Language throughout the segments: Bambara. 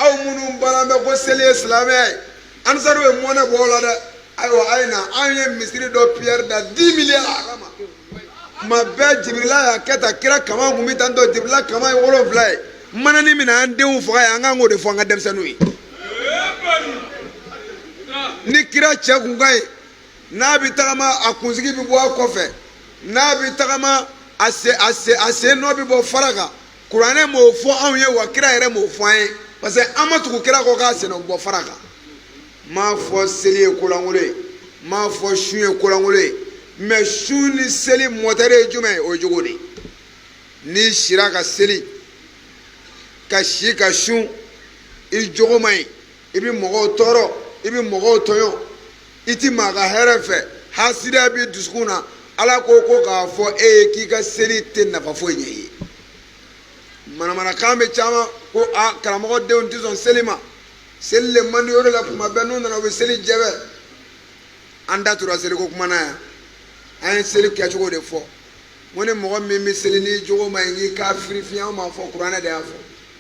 aw minnu baara bɛ ko seli ye silamɛya ye ansaru ye mɔnɛ bɔ o la dɛ ayiwa a ye na an ye misiri dɔ pierre da dix milliards a kama tuma bɛɛ jibirila y'a kɛ tan kira kamankun bɛ tan tɔ jibirila kaman ye wolonfila ye maana nin min na an denw faga ye an kan k'o de fɔ an ka denmisɛnninw ye ni kira cɛ tun ka ɲi n'a bɛ tagama a kunsigi bɛ bɔ a kɔfɛ n'a bɛ tagama a sen nɔ bɛ bɔ fara kan kuranɛ m'o fɔ anw ye wa kira yɛrɛ m'o fɔ an ye parce que an ma tugu kira kɔ k'a sen nɔ bɔ fara kan n m'a fɔ seli ye kolankolon ye n m'a fɔ sun ye kolankolon ye mais sun ni seli mɔtɛri ye jumɛn ye o ye jogo de ye n'i sira ka seli ka si ka sun i jogo man ɲi i bɛ mɔgɔw tɔɔrɔ i bɛ mɔgɔw tɔɲɔ i ti maa ka hɛrɛ fɛ hasidiya b'i dusukun na ala ko ko k'a fɔ e ye k'i ka seli tɛ nafa foyi ɲɛ i ye manamanakan bɛ caman ko a karamɔgɔ denw tɛ sɔn seli ma seli le man di o de la tuma bɛɛ n'u nana u bɛ seli jɛbɛ an da tora seliko kuma na yan an ye seli kɛcogo de fɔ n ko ni mɔgɔ min bɛ seli n'i jogo man ɲi k'i k'a firi fiɲɛ anw m'a fɔ kuranɛ de y'a fɔ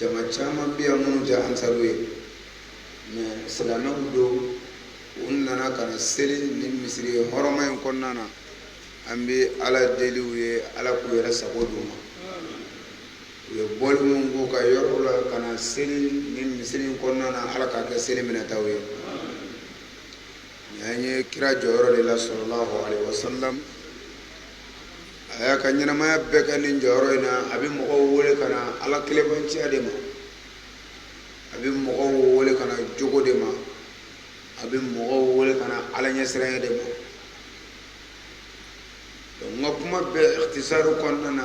jama caman bɛ yan minnu tɛ ansaru ye mais silamɛw don u nana ka na seli nin misiri hɔrɔma in kɔnɔna na an bɛ ala deli u ye ala k'u yɛrɛ sago d'u ma u ye bɔli min k'u ka yɔrɔ la ka na seli nin misiri in kɔnɔna na ala k'a kɛ seli minɛtaw ye an ye kira jɔyɔrɔ de la sallallahu alaihi wasallam a y'a ka ɲɛnamaya bɛɛ kɛ nin jɔyɔrɔ in na a bɛ mɔgɔw wele ka na ala kelenbanciya de ma a bɛ mɔgɔw wele ka na jogo de ma a bɛ mɔgɔw wele ka na ala ɲɛsiranya de ma donc n ka kuma bɛɛ ikhtisaru kɔnɔna na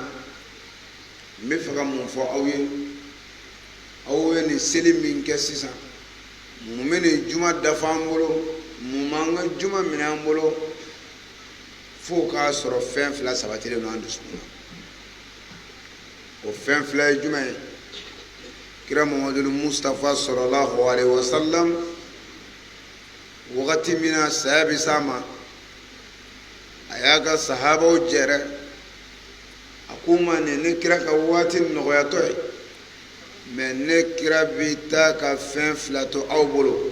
n bɛ fɛ ka mun fɔ aw ye aw ye nin seli min kɛ sisan mun bɛ nin juma dafa an bolo mun b'an ka juma minɛ an bolo fo k'a sɔrɔ fɛn fila sabatilen don an dusukun na o fɛn fila ye jumɛn ye kira mamadu mustapha sallallahu alaihi wasallam wagati min na saya bɛ s'a ma a y'a ka sahabaw jɛrɛ a k'u ma nin ne kira ka waati nɔgɔyatɔ ye mais ne kira bɛ taa ka fɛn fila to aw bolo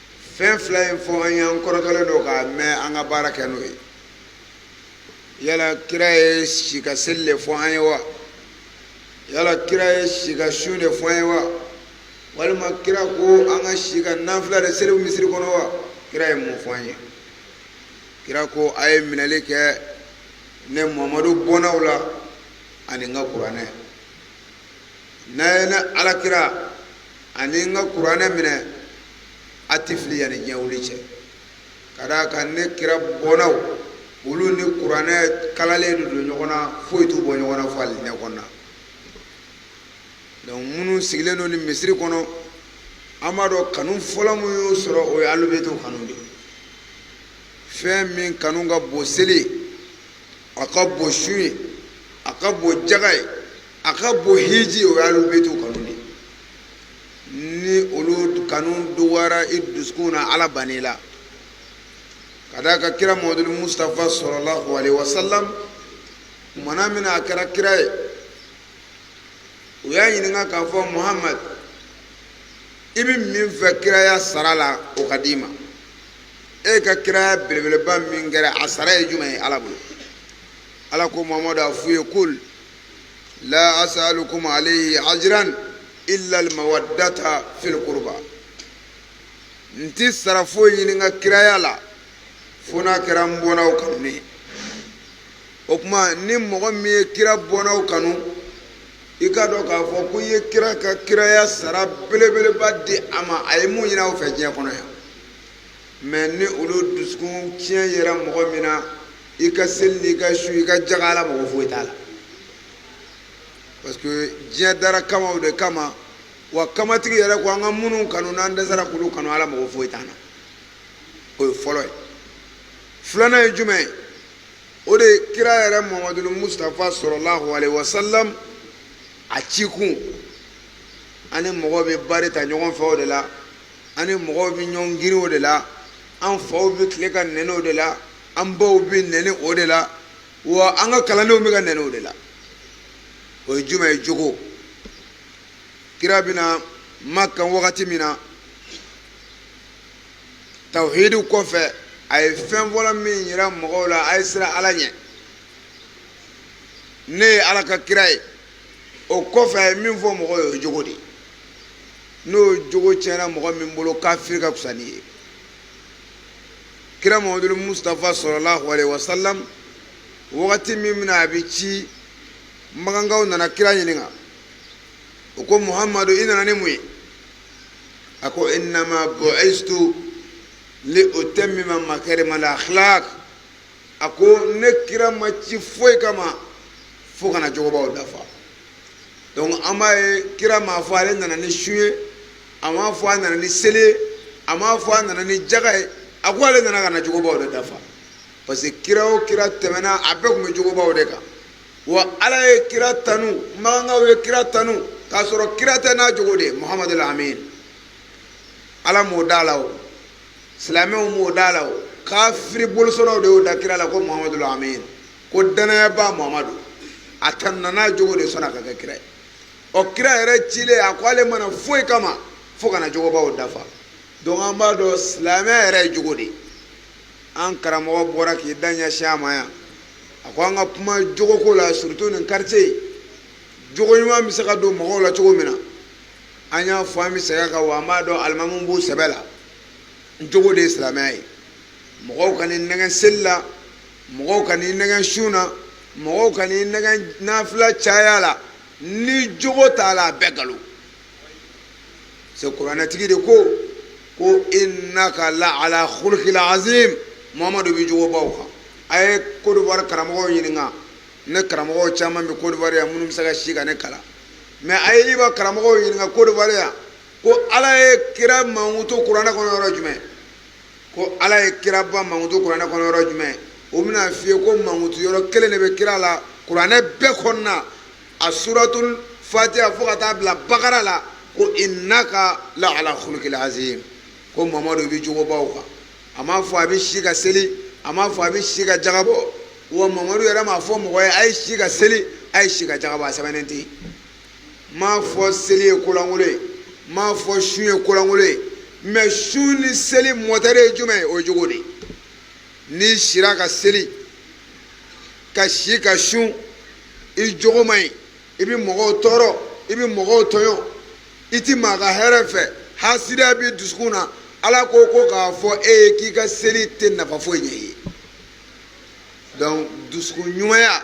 fɛn fila in fɔ an ye an kɔrɔtɔlen don k'a mɛn an ka baara kɛ n'o ye yala kira ye si ka seli de fɔ an ye wa yala kira ye si ka sun de fɔ an ye wa walima kira ko an ka si ka nafila de seli misiri kɔnɔ wa kira ye mun fɔ an ye kira ko a ye minɛli kɛ ne mamadu bɔnnaw la ani n ka kuranɛ n'a ye ne alakira ani n ka kuranɛ minɛ a ti fili yanni diɲɛ wuli cɛ ka d'a kan ne kira bɔnnaw olu ni kuranɛ kalalen de don ɲɔgɔn na foyi t'u bɔ ɲɔgɔn na fo alijinɛ kɔnɔna donc minnu sigilen don nin misiri kɔnɔ an b'a dɔn kanu fɔlɔ min y'u sɔrɔ o ye alubɛtiw kanu de ye fɛn min kanu ka bon seli ye a ka bon sun ye a ka bon jaga ye a ka bon hiji o y'alubɛtiw kanu de ni olu kanu dɔgɔyara i dusukun na ala ban'i la ka d'a kan kira muhamadul mustapha sallallahu alaihi wasallam kumana min na a kɛra kira ye u y'a ɲininka k'a fɔ muhamadu i bɛ min fɛ kiraya sara la o ka d'i ma e ka kiraya belebeleba min kɛra a sara ye jumɛn ye ala bolo ala ko muhamadu a f'u ye kul la asalukum alayhi ajran illa almawaddata fil qurba n ti sara foyi ɲini n ka kiraya la fo n'a kɛra n bɔnnaw kanu ne ye o kuma ni mɔgɔ min ye kira bɔnnaw kanu i k'a dɔn k'a fɔ ko i ye kira ka kiraya sara belebeleba di a ma a ye mun ɲini aw fɛ diɲɛ kɔnɔ yan mais ni olu dusukun tiɲɛ yera mɔgɔ min na i ka seli n'i ka sun i ka jaga ala mago foyi t'a la parce que diɲɛ dara kamaw de kama wa kamatigi yɛrɛ ko an ka minnu kanu n'an dɛsɛra k'olu kanu ala mago foyi t'an na o ye fɔlɔ ye filanan ye jumɛn ye o de ye kira yɛrɛ muhamadul mustapha sallallahu alaihi wasallam a cikun ani mɔgɔw bɛ bari ta ɲɔgɔn fɛ o de la ani mɔgɔw bɛ ɲɔgɔn girin o de la an faw bɛ tile ka nɛni o de la an baw bɛ nɛni o de la wa an ka kalandenw bɛ ka nɛni o de la o ye jumɛn ye jogo kira bɛna makan wagati min na tawhidu kɔfɛ a ye fɛn fɔlɔ min yira mɔgɔw la a ye siran ala ɲɛ ne ye ala ka kira ye o kɔfɛ a ye min fɔ mɔgɔw ye o ye jogo de ye n'o jogo tiɲɛna mɔgɔ min bolo kafiri ka fisa n'i ye kira muhamadul mustafa sallallahu alaihi wasallam wagati min min na a bɛ ci makankaw nana kira ɲininka u ko muhamadu i nana ni mun ye a ko innama bu'istu li utammima makarima al akhlaq a ko ne kira ma ci foyi kama fo ka na jogobaw dafa donc an b'a ye kira m'a fɔ ale nana ni sun ye a m'a fɔ a nana ni seli ye a m'a fɔ a nana ni jaga ye a ko ale nana ka na jogobaw de dafa parce que kira o kira tɛmɛna a bɛɛ tun bɛ jogobaw de kan wa ala ye kira tanu makankaw ye kira tanu k'a sɔrɔ kira tɛ n'a jogo de ye muhamadu lamin ala m'o da la o silamɛw m'o da la o kafiri bolisɔnnaw de y'o da kira la ko muhamadu lamin ko danayaba mamadu a tanuna n'a jogo de san'a ka kɛ kira ye ɔ kira yɛrɛ cilen a ko ale ma na foyi kama fo ka na jogobaw dafa donc an b'a dɔn silamɛya yɛrɛ ye jogo de ye an karamɔgɔ bɔra k'i da ɲɛsin a ma yan a ko an ka kuma jogoko la surtout nin quartier jogo ɲuman bɛ se ka don mɔgɔw la cogo min na an y'a fɔ an bɛ segin a kan wa an b'a dɔn alimamuw b'u sɛbɛ la jogo de ye silamɛya ye mɔgɔw kan'i nɛgɛn seli la mɔgɔw kan'i nɛgɛn sun na mɔgɔw kan'i nɛgɛn nafila caya la ni jogo t'a la a bɛɛ nkalon c'est kuranɛtigi de ko ko innaka la ala khuluqil azim Muhamadu bɛ jogobaw kan a ye Côte d'Ivoire karamɔgɔw ɲininka ne karamɔgɔw caman bɛ Côte d'Ivoire yan minnu bɛ se ka si ka ne kalan mais a ye Iba karamɔgɔw ɲininka Côte d'Ivoire yan ko Ala ye kira mankutu kuranɛ kɔnɔ yɔrɔ jumɛn ko ala ye kiraba mankutu kuranɛ kɔnɔ yɔrɔ jumɛn o bɛn'a f'i ye ko mankutu yɔrɔ kelen de bɛ kira la kuranɛ bɛɛ kɔnɔna a suratul fatiha fo ka taa bila bakara la ko innaka la ala khuluqil azim ko mamadu bɛ jogobaw kan a m'a fɔ a bɛ si ka seli a m'a fɔ a bɛ si ka jaga bɔ wa mamadu yɛrɛ m'a fɔ mɔgɔ ye a ye si ka seli a ye si ka jaga bɔ a sɛbɛnnen tɛ yen m'a fɔ seli ye kolankolon ye m'a fɔ sun ye kolankolon ye mais sun ni seli mɔtɛri ye jumɛn ye o ye jogo de n'i sira ka seli ka si ka sun i jogo man ɲi i bɛ mɔgɔw tɔɔrɔ i bɛ mɔgɔw tɔɲɔ i tɛ maa ka hɛrɛ fɛ hasidiya b'i dusukun na ala ko ko k'a fɔ e ye k'i ka seli tɛ nafa foyi ɲɛ i ye donc dusukun ɲumanya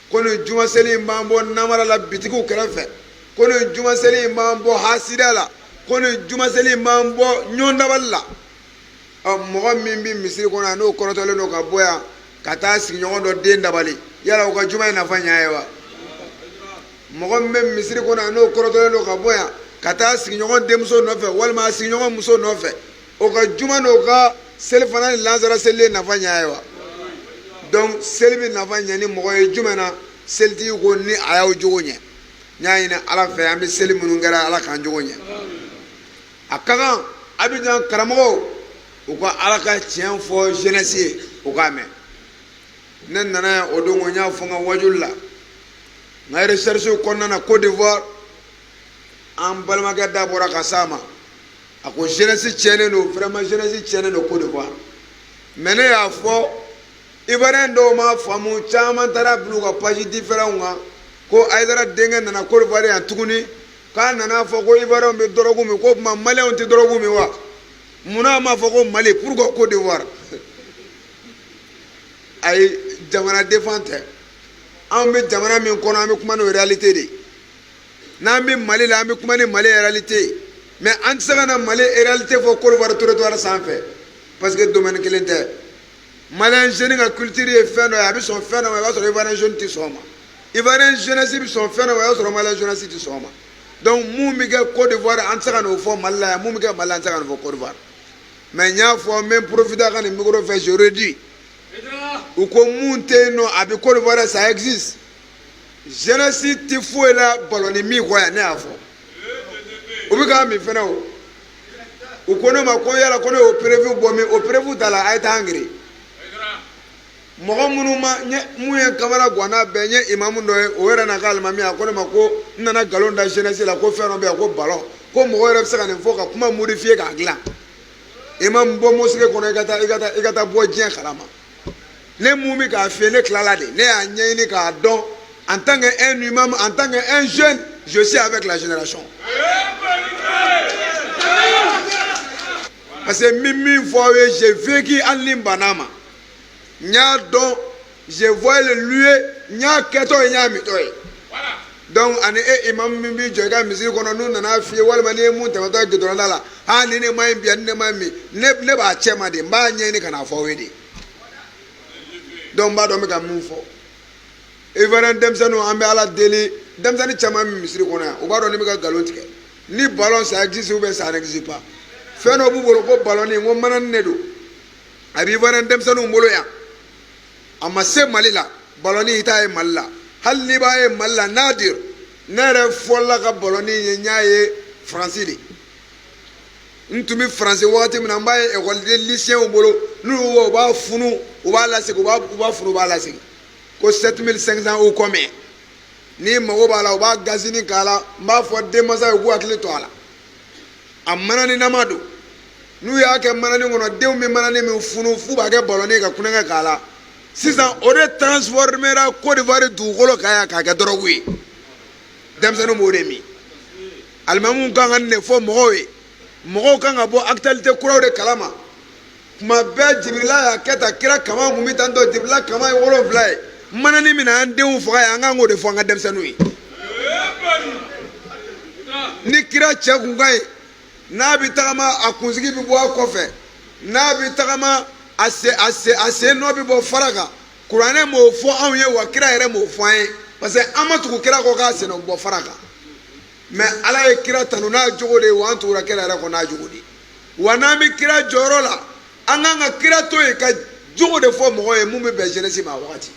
ko nin juma seli in b'an bɔ namara la bitigiw kɛrɛfɛ ko nin juma seli in b'an bɔ hasidiya la ko nin juma seli in b'an bɔ ɲɔgɔn dabali la ɔ mɔgɔ min bɛ misiri kɔnɔ yan n'o kɔrɔtɔlen don ka bɔ yan ka taa sigiɲɔgɔn dɔ den dabali yala o ka juma ye nafa ɲ'a ye wa mɔgɔ min bɛ misiri kɔnɔ yan n'o kɔrɔtɔlen don ka bɔ yan ka taa sigiɲɔgɔn denmuso nɔfɛ walima a sigiɲɔgɔn muso nɔfɛ o ka juma n'o ka selifana ni lansara selili ye nafa ɲɛ ye wa donc seli bɛ nafa ɲɛ ni mɔgɔ ye jumɛn na selitigi ko ni a y'aw jogo ɲɛ n y'a ɲini ala fɛ an bɛ seli minnu kɛra ala k'an jogo ɲɛ a ka kan Abidjan karamɔgɔw u ka ala ka tiɲɛ fɔ jeunesse ye u k'a mɛn ne nana yan o don ko n y'a fɔ n ka wajuli la n ka recherche kɔnɔna na Côte d'Ivoire an balimakɛ da bɔra ka s'a ma a ko jeunesse tiɲɛnen don vraiment jeunesse tiɲɛnen don Côte d'Ivoire mais ne y'a fɔ Ivoirien dɔw m'a faamu caman taar'a bila u ka page différents kan ko Haïdara denkɛ nana Côte d'Ivoire yan tuguni k'a nana fɔ ko Ivoirien bɛ dɔrɔgu min ko o tuma Malien tɛ dɔrɔgu min wa munna a ma fɔ ko Mali pourquoi Côte d'Ivoire ayi jamana défend tɛ anw bɛ jamana min kɔnɔ an bɛ kuma n'o réalité de ye n'an bɛ mali la an bɛ kuma ni mali réalité ye mais an tɛ se ka na mali réalité fɔ Côte d'Ivoire territoire sanfɛ parce que domaine kelen tɛ malien jeune ka culture ye fɛn dɔ ye a bɛ sɔn fɛn dɔ ma i b'a sɔrɔ ivoirien jeune tɛ sɔn o ma ivoirien jeunesse bɛ sɔn fɛn dɔ ma i b'a sɔrɔ malien jeunesse tɛ sɔn o ma donc mun bɛ kɛ Côte d'Ivoire an tɛ se ka n'o fɔ mali la yan mun bɛ kɛ mali la an tɛ se ka n'o fɔ Côte d'Ivoire mais n y'a fɔ n bɛ profiter a ka nin micro fɛ je redis u ko mun tɛ yen non a bɛ Côte d'Ivoire ça existe jeunesse tɛ foyi la balɔni min kɔ yan ne y'a fɔ u bɛ k'a min fɛnɛ o u ko ne ma ko yala ko ne y'o preuve bɔ min o preuve ta la a ye taa an gɛrɛ mɔgɔ minnu ma n ye mun ye kamara gwanna bɛɛ n ye imamu dɔ ye o yɛrɛ n'a ka alimami a ko ne ma ko n nana nkalon da jeunesse la ko fɛn dɔ bɛ yan ko ballon ko mɔgɔ yɛrɛ bɛ se ka nin fɔ ka kuma modifier k'a dilan imamu bɔ mosquée kɔnɔ i ka taa bɔ diɲɛ kalama ne mun bɛ k'a f'i ye ne tilala de ne y'a ɲɛɲini k'a dɔn en tant que un imam en tant que un jeune je suis avec la génération parce que n bɛ min fɔ aw ye j'ai vécu hali ni n banna a ma n y'a dɔn je vois le lieu n y'a kɛtɔ ye n y'a mintɔ ye donc ani e imamu min b'i jɔ i ka misiri kɔnɔ n'u nana f'i ye walima n'i ye mun tɛmɛtɔ ye gudɔrɔnda la aa ni ne ma ɲi bi ani ne ma ɲi min ne ne b'a cɛ ma de n b'a ɲɛɲini ka n'a fɔ aw ye de donc n b'a dɔn n bɛ ka mun fɔ ivoirien denmisɛnninw an bɛ ala deli denmisɛnnin caman bɛ misiri kɔnɔ yan u b'a dɔn ne bɛ ka nkalon tigɛ ni ballon ça existe ou bien ça n'existe pas fɛn dɔ b'u bolo ko balɔni ko manani de don a bɛ ivoirien denmisɛnninw bolo yan a ma se mali la balɔni i t'a ye mali la hali n'i b'a ye mali la nadir ne yɛrɛ fɔlɔla ka balɔni ye n y'a ye faransi de n tun bɛ faransi wagati min na n b'a ye ekɔliden lisiyɛnw bolo n'u y'u u b'a funu u b'a lasegin u b'a u b'a funu u b'a lasegin ko 7500 ou combien n'i mago b'a la u b'a gazini k'a la n b'a fɔ denmansa ye u k'u hakili to a la a manani nama don n'u y'a kɛ manani kɔnɔ denw bɛ manani min funu f'u b'a kɛ balɔnni ka kulonkɛ k'a la sisan o de transformera Côte d'Ivoire dugukolo kan yan k'a kɛ dɔrɔgu ye denmisɛnninw b'o de min alimamuw kan ka nin de fɔ mɔgɔw ye mɔgɔw kan ka bɔ actualité kuraw de kalama tuma bɛɛ jibirila y'a kɛ tan kira kamankun bɛ tan tɔ jibirila kaman ye wolonfila ye manani min na an denw faga ye an kan k'o de fɔ an ka denmisɛnninw ye ni kira cɛ kun ka ɲi n'a bɛ tagama a kunsigi bɛ bɔ a kɔfɛ n'a bɛ tagama a sen nɔ bɛ bɔ fara kan kuranɛ m'o fɔ anw ye wa kira yɛrɛ m'o fɔ an ye parce que an ma tugu kira kɔ k'a sen nɔ bɔ fara kan mais ala ye kira tanu n'a jogo de ye wa an tugura kira yɛrɛ kɔ n'a jogo de ye wa n'an bɛ kira jɔyɔrɔ la an kan ka kira to yen ka jogo de fɔ mɔgɔ ye mun bɛ bɛn jeunesse ma a wagati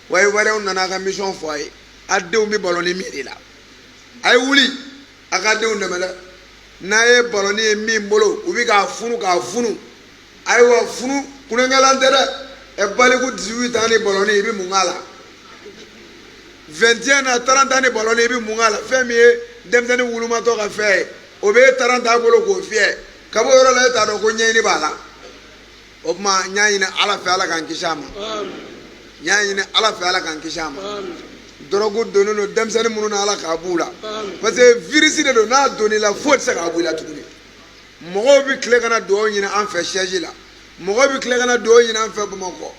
wa ivoiriens nana a ka mission fɔ a ye a denw bɛ balɔnni min de la a ye wuli a ka denw dɛmɛ dɛ n'a ye balɔnni ye min bolo u bɛ k'a funu k'a funu ayiwa funu kulonkɛlan tɛ dɛ e baliku 18 ans ni balɔnni i bɛ mun k'a la 21 ans 30 ans ni balɔnni i bɛ mun k'a la fɛn min ye denmisɛnnin wulumatɔ ka fɛn ye o bɛ e 30 ans bolo k'o fiyɛ ka bɔ yɔrɔ la e t'a dɔn ko ɲɛɲini b'a la o tuma n y'a ɲini ala fɛ ala k'an kisi a ma n y'a ɲini ala fɛ ala k'an kisi a ma dɔrɔgu donnen don denmisɛnnin minnu na ala k'a b'u la parce que virus de don n'a donn'i la foyi tɛ se k'a b'i la tuguni mɔgɔw bɛ tile ka na dugawu ɲini an fɛ siège la mɔgɔw bɛ tile ka na dugawu ɲini an fɛ bamakɔ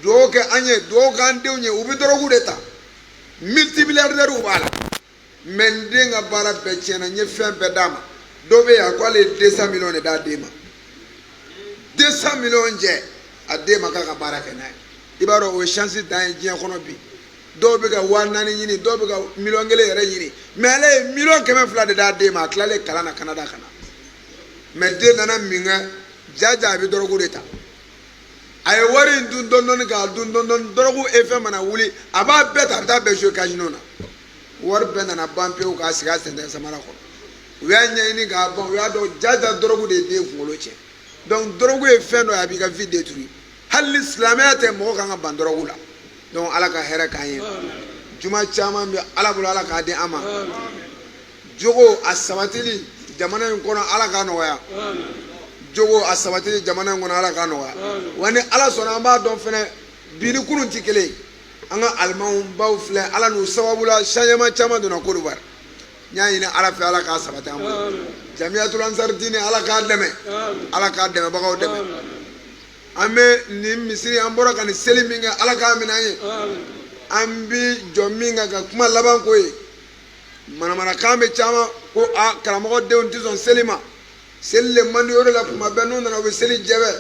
dugawu kɛ an ye dugawu k'an denw ye u bɛ dɔrɔgu de ta multimilliardairew b'a la mais n den ka baara bɛɛ tiɲɛna n ye fɛn bɛɛ d'a ma dɔ bɛ yen a ko ale ye 200 miliyɔn de d'a den ma 200 miliyɔn jɛ a den ma k'a ka baara kɛ n'a ye i b'a dɔn o ye chance dan ye diɲɛ kɔnɔ bi dɔw bɛ ka waa naani ɲini dɔw bɛ ka miliyɔn kelen yɛrɛ ɲini mais ale ye miliyɔn kɛmɛ fila de d'a den ma a tilalen kalan na kanada ka na mais den nana min kɛ jaja a bɛ dɔrɔgu de ta a ye wari in dun dɔndɔni k'a dun dɔndɔni dɔrɔgu effet mana wuli a b'a bɛɛ ta a bɛ taa bɛɛ jouer casino na wari bɛɛ nana ban pewu k'a sigi a sentɛgɛ samara kɔnɔ u y'a ɲɛɲini k'a ban u y'a dɔn jaja dɔrɔgu de ye den kunkolo cɛn donc dɔrɔgu ye fɛn dɔ ye a b'i ka vie détruire hali ni silamɛya tɛ mɔgɔ kan ka ban dɔrɔgu la donc ala ka hɛrɛ k'an ye juma caman bɛ ala bolo ala k'a di an ma jogo a sabatili jamana in kɔnɔ ala k'a nɔgɔya jogo a sabatili jamana in kɔnɔ ala k'a nɔgɔya wa ni ala sɔnna an b'a dɔn fɛnɛ bi ni kunun tɛ kelen an ka alima baw filɛ ala n'u sababu la changement caman donna Côte d'Ivoire n y'a ɲini ala fɛ ala k'a sabati an bolo jamiyatul ansar diine ala k'a dɛmɛ ala k'a dɛmɛbagaw dɛmɛ an bɛ nin misiri an bɔra ka nin seli min kɛ ala k'a minɛ an ye an bi jɔ min kan ka kuma laban ko ye manamanakan bɛ caman ko a karamɔgɔ denw tɛ sɔn seli ma seli le man di o de la kuma bɛɛ n'u nana u bɛ seli jɛbɛ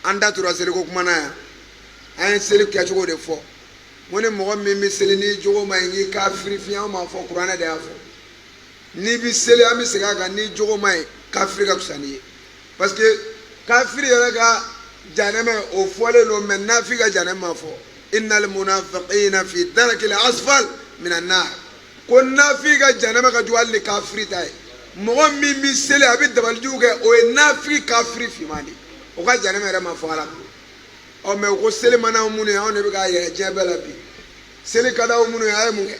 an da tora seliko kuma na yan an ye seli kɛcogo de fɔ n ko ni mɔgɔ min bɛ seli n'i jogo ma ɲi k'i kafiri fin ye an m'a fɔ kuranɛ de y'a fɔ n'i bɛ seli an bɛ segin a kan n'i jogo ma ɲi kafiri ka fisa n'i ye parce que kafiri yɛrɛ ka janɛmɛ o fɔlen don mɛ nafi ka janɛmɛ ma fɔ innal munafiqina fi darakil asfal minan nar ko nafi ka janɛmɛ ka jugu hali ni kafiri ta ye mɔgɔ min bɛ seli a bɛ dabalijugu kɛ o ye nafi kafiri finman de ye o ka janɛmɛ yɛrɛ ma fɔ ala bolo ɔ mɛ ko seli man d'an minnu ye anw de bɛ k'a yɛrɛ diɲɛ bɛɛ la bi seli ka d'aw minnu ye a ye mun kɛ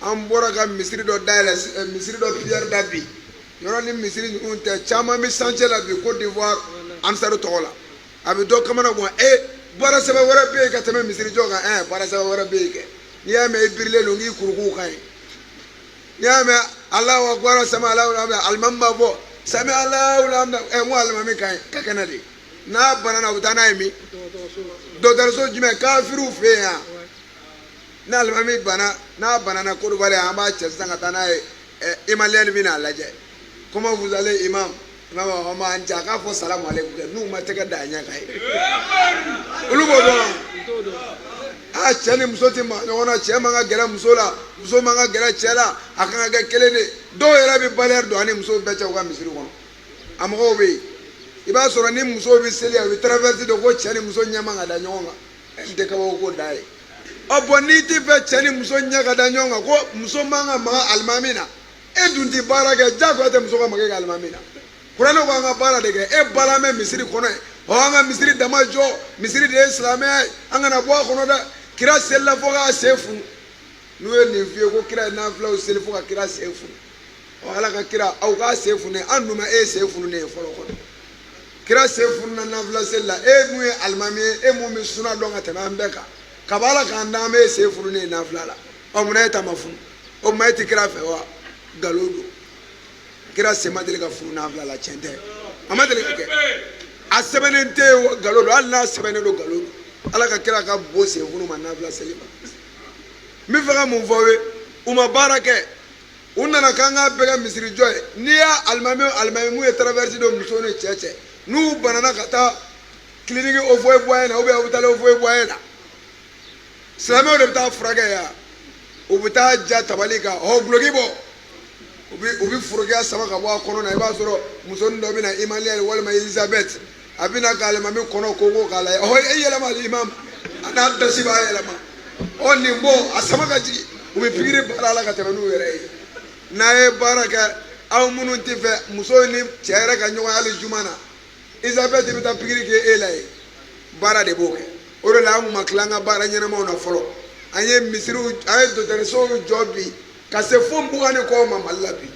an bɔra ka misiri dɔ dayɛlɛ eh, misiri dɔ piyɛri da bi yɔrɔ ni misiri ninnu tɛ caman bɛ chantier la bi Côte d'Ivoire ansaru tɔgɔ la a bɛ dɔ kamana gan e eh, baara sɛbɛn wɛrɛ bɛ yen ka tɛmɛ misiri jɔ kan ɛ eh, baara sɛbɛn wɛrɛ bɛ yen kɛ n'i y'a mɛn i birilen don k'i ka ruku ka ɲi n'i y'a mɛn alahu akbar sami alahu liman alimami b'a fɔ sami alahu liman hamida ɛ n ko alimami ka ɲi ka kɛnɛ de n'a banana u bɛ taa n'a ye min dɔgɔtɔrɔso jumɛn kafiriw fɛ yen yan. ni alimami bana n'a banana Kodowari an b'a cɛ sisan ka taa n'a ye eh, Émilienne bɛ n'a lajɛ comment vous allez imam imam b'a fɔ ma an ca k'a fɔ salamu aleykum kɛ n'u ma tɛgɛ da a ɲɛ kan ye olu b'o dɔn wa aa cɛ ni muso tɛ maa ɲɔgɔn na cɛ man ka gɛrɛ muso la muso man ka gɛrɛ cɛ la a kan ka kɛ kelen de ye dɔw yɛrɛ bɛ bariyɛri don a ni musow bɛɛ cɛ u ka misiri kɔnɔ a mɔgɔw bɛ yen i b'a sɔrɔ ni musow bɛ seli a bɛ traverse don ko cɛ ni muso ɲɛ man ka da ɲɔgɔn kan n tɛ kabako ko dan ye ɔ bɔn n'i t'i fɛ cɛ ni muso ɲɛ ka da ɲɔgɔn kan ko muso man ka maga alimami na e dun tɛ baara kɛ diyagoya tɛ muso ka maga e ka alimami na kuranɛ ko an ka baara de kɛ e balannen bɛ misiri kɔnɔ yen ɔ an ka misiri dama jɔ misiri de ye silamɛya ye an kana bɔ a kɔnɔ dɛ kira selila fo k'a sen funu n'u ye nin f'i ye ko kira ye nafilaw seli fo ka kira sen funu ɔ ala ka kira aw k'a sen fununna an dun ma e sen fununnen ye fɔlɔ kɔnɔ kira sen fununna nafila seli la e mun ye alimami ye e mun bɛ suna dɔn ka tɛmɛ an bɛɛ kan kaba ala k'an dan an ma e sen fununnen ye nafila la ɔ munna e ta ma funu o tuma e tɛ kira fɛ wa nkalon don kira sen ma deli ka funu nafila la tiɲɛ tɛ a ma deli ka kɛ a sɛbɛnnen tɛ yen nkalon don hali n'a sɛbɛnnen don nkalon don ala ka kira ka bon sen funun ma nafila seli ma n bɛ fɛ ka mun fɔ aw ye u ma baara kɛ u nana k'an k'a bɛɛ kɛ misirijɔ ye n'i y'a alimami alimami mun ye traverse don muso ni cɛ cɛ n'u banana ka taa kiliniki Houphouët-Boigny na ou bien hôpital Houphouët-Boigny na silamɛw de bɛ taa furakɛ yan u bɛ taa ja tabali kan ɔ duloki bɔ u bɛ u bɛ forokiya sama ka bɔ a kɔnɔ na i b'a sɔrɔ musonin dɔ bɛ na Émilienne walima elizabeth a bɛna ka alimami kɔnɔ koko k'a lajɛ ɔ e yɛlɛma alimami a n'a dasiba yɛlɛma ɔ nin bɔ a sama ka jigin u bɛ pikiri baara la ka tɛmɛ n'u yɛrɛ ye n'a ye baara kɛ aw minnu t'a fɛ muso ni cɛ yɛrɛ ka ɲɔgɔn hali juma na Elisabeth bɛ taa pikiri kɛ e la ye baara de b'o kɛ o de la an kun ma tila an ka baara ɲɛnamaw na fɔlɔ an ye misiriw an ye dɔgɔtɔrɔsow jɔ bi ka se fo mugan ni kɔ ma mali la bi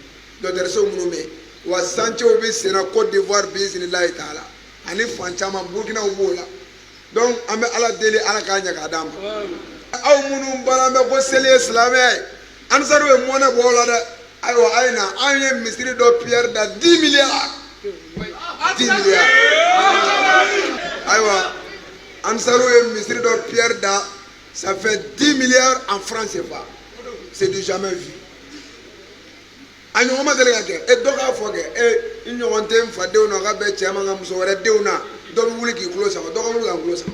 dɔgɔtɔrɔso minnu bɛ yen wa chantierw bɛ sen na Côte d'Ivoire bisimilayi taala ani fan caman burukinaw b'o la donc an bɛ ala deli ala k'a ɲɛ k'a d'an ma aw minnu baara bɛ ko seli ye silamɛya ye Ansaru ye mɔnɛ bɔ o la dɛ ayiwa a ye na an ye misiri dɔ pierre da 10 milliards 10 milliards ayiwa Ansaru ye misiri dɔ pierre da ça fait 10 milliards en francs CFA c'est du jamais vu a ɲɔgɔn ma deli ka kɛ e dɔ k'a fɔ kɛ e n ɲɔgɔn tɛ n fadenw na ka bɛn cɛ ma ka muso wɛrɛ denw na dɔ bɛ wuli k'i kulo sama dɔ ka wuli ka n kulo sama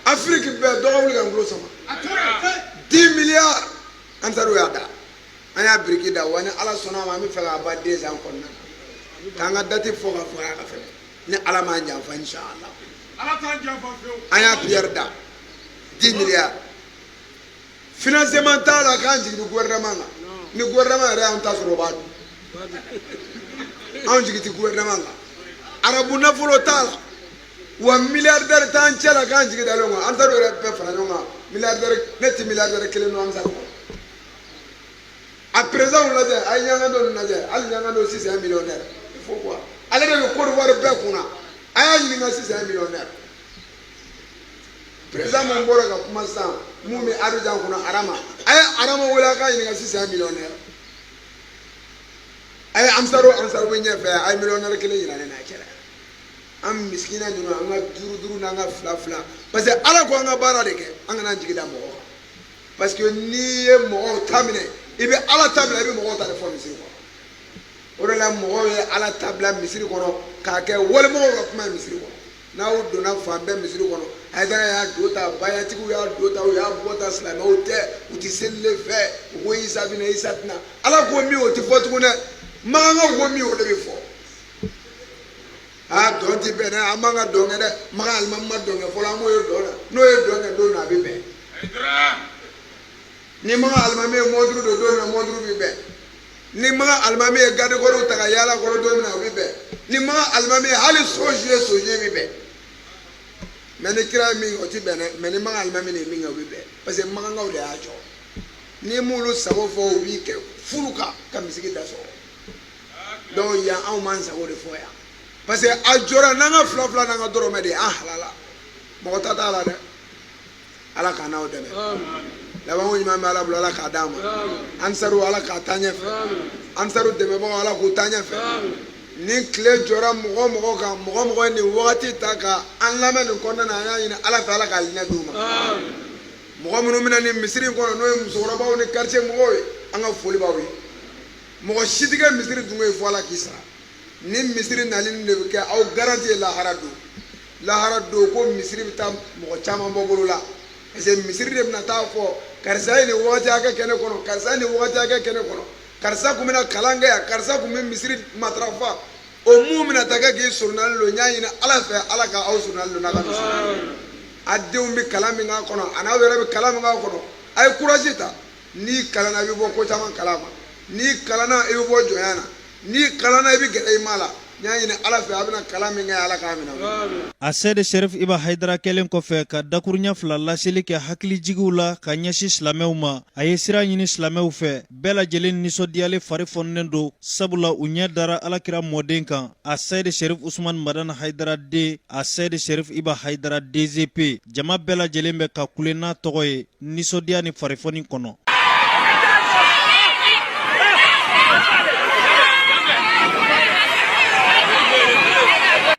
afiriki bɛɛ dɔ ka wuli ka n kulo sama 10 milliards Ansaru y'a da an y'a biriki da wa ni ala sɔnna a ma an b'a fɛ k'a ban 2 ans kɔnɔna na k'an ka dati fɔ ka fɔ a ka fɛnɛ ni ala m'an janfa inshallah an y'a pierre da 10 milliards financement t'a la k'an jigi bɛ gouvernement kan ni gouvernement yɛrɛ y'an ta sɔrɔ o b'a dun anw jigi tɛ gouvernement kan arabu nafolo t'a la wa milliardaire t'an cɛ la k'an jigi dalen o kan Ansaru yɛrɛ bɛɛ fara ɲɔgɔn kan milliardaire ne tɛ milliardaire kelen dɔn Ansaru kɔnɔ a président lajɛ a ye Ɲangado lajɛ hali Ɲangado s'il est millionnaire il faut quoi ale de bɛ Côte d'Ivoire bɛɛ kunna a y'a ɲininka s'il est millionnaire président min bɔra ka kuma sisan min bɛ Abidjan kunna Arama a ye Arama wele a k'a ɲininka s'il est millionnaire a ye Ansaru bɛɛ ɲɛfɛ a ye millionnaire kelen yira ne na a kɛra an misikina ninnu an ka duuru duuru n'an ka fila fila parce que Ala ko an ka baara de kɛ an kana jigi da mɔgɔ kan parce que n'i ye mɔgɔw ta minɛ i bɛ Ala ta bila i bɛ mɔgɔw ta de fɔ misiri kɔnɔ o de la mɔgɔw ye Ala ta bila misiri kɔnɔ k'a kɛ wali mɔgɔw ka kuma ye misiri kɔnɔ. N'aw donna fan bɛɛ misiri kɔnɔ Hayidara y'a don tan bayatigiw y'a don tan u y'a bɔ tan silamɛw tɛ u tɛ seli fɛ u ko Isa bɛ na Isa tɛ na ala ko min o tɛ fɔ tugun dɛ makan ko min o de bɛ fɔ aa dɔn tɛ bɛn dɛ an man kan ka dɔnkɛ dɛ makan alimami ma dɔnkɛ fɔlɔ an m'o ye dɔn na n'o ye dɔnkɛ don na a bɛ bɛn ni makan alimami ye mɔnturu don don na mɔnturu bɛ bɛn ni makan alimami ye gadekɔrɔw ta ka yaala kɔrɔ don min na o bɛ bɛn ni makan alimami ye hali soji ye soji bɛ bɛn mais ni kira ye min kɛ o tɛ bɛn dɛ mais ni makan alimami ye min kɛ o bɛ bɛn parce que makankaw de y'a jɔ n'i m'olu sago fɔ o b'i kɛ furu kan ka misiri da sɔgɔ donc yan anw b'an sago de fɔ yan parce que a jɔra n'an ka fila fila n'an ka dɔrɔmɛ de ye an halala mɔgɔ ta t'a la dɛ ala k'an n'aw dɛmɛ laban ko ɲuman bɛ ala bolo ala k'a d'an ma ansaru ala k'a taa ɲɛfɛ ansaru dɛmɛbagaw ala k'u taa ɲɛfɛ ni tile jɔra mɔgɔ o mɔgɔ kan mɔgɔ o mɔgɔ ye nin wagati ta ka an lamɛn nin kɔnɔna na an y'a ɲini ala fɛ ala k'alijinɛ d'u ma mɔgɔ minnu bɛ na nin misiri in kɔnɔ n'o ye musokɔrɔbaw ni quartier mɔgɔw ye an ka foli b'aw ye mɔgɔ si tɛ kɛ misiri dunge ye fo ala k'i sara nin misiri nali nin de bɛ kɛ aw garanti ye lahara don lahara don ko misiri bɛ taa mɔgɔ caman bɔ bolo la parce que misiri de bɛna t'a fɔ karisa ye nin wagati hakɛ kɛ ne kɔnɔ karisa ye nin wagati hakɛ kɛ ne kɔnɔ karisa tun bɛ na kalan kɛ yan karisa tun bɛ misiri matarafa o min bɛna taa kɛ k'i soronali don n y'a ɲini ala fɛ ala ka aw soronali don n'a ka misiri a denw bɛ kalan min k'a kɔnɔ a n'aw yɛrɛ bɛ kalan min k'a kɔnɔ a ye courage ta n'i kalanna i bɛ bɔ ko caman kalama n'i kalanna i bɛ bɔ jɔnya na n'i kalanna i bɛ gɛrɛ i ma la n y'a ɲini ala fɛ a bɛna kalan min kɛ ala k'a minɛ a sɛde sɛrif iba hayidara kɛlen kɔfɛ ka dakurunya fila laseli kɛ hakilijigiw la ka ɲɛsin silamɛw ma a ye sira ɲini silamɛw fɛ bɛɛ lajɛlen nisɔndiyalen fari foninen don sabula u ɲɛ dara alakira mɔden kan a sɛde sɛrif usumani madani hayidara den a sɛde sɛrif iba hayidara dezp jama bɛɛ lajɛlen bɛ ka kule n'a tɔgɔ ye nisɔndiya ni farifoni kɔnɔ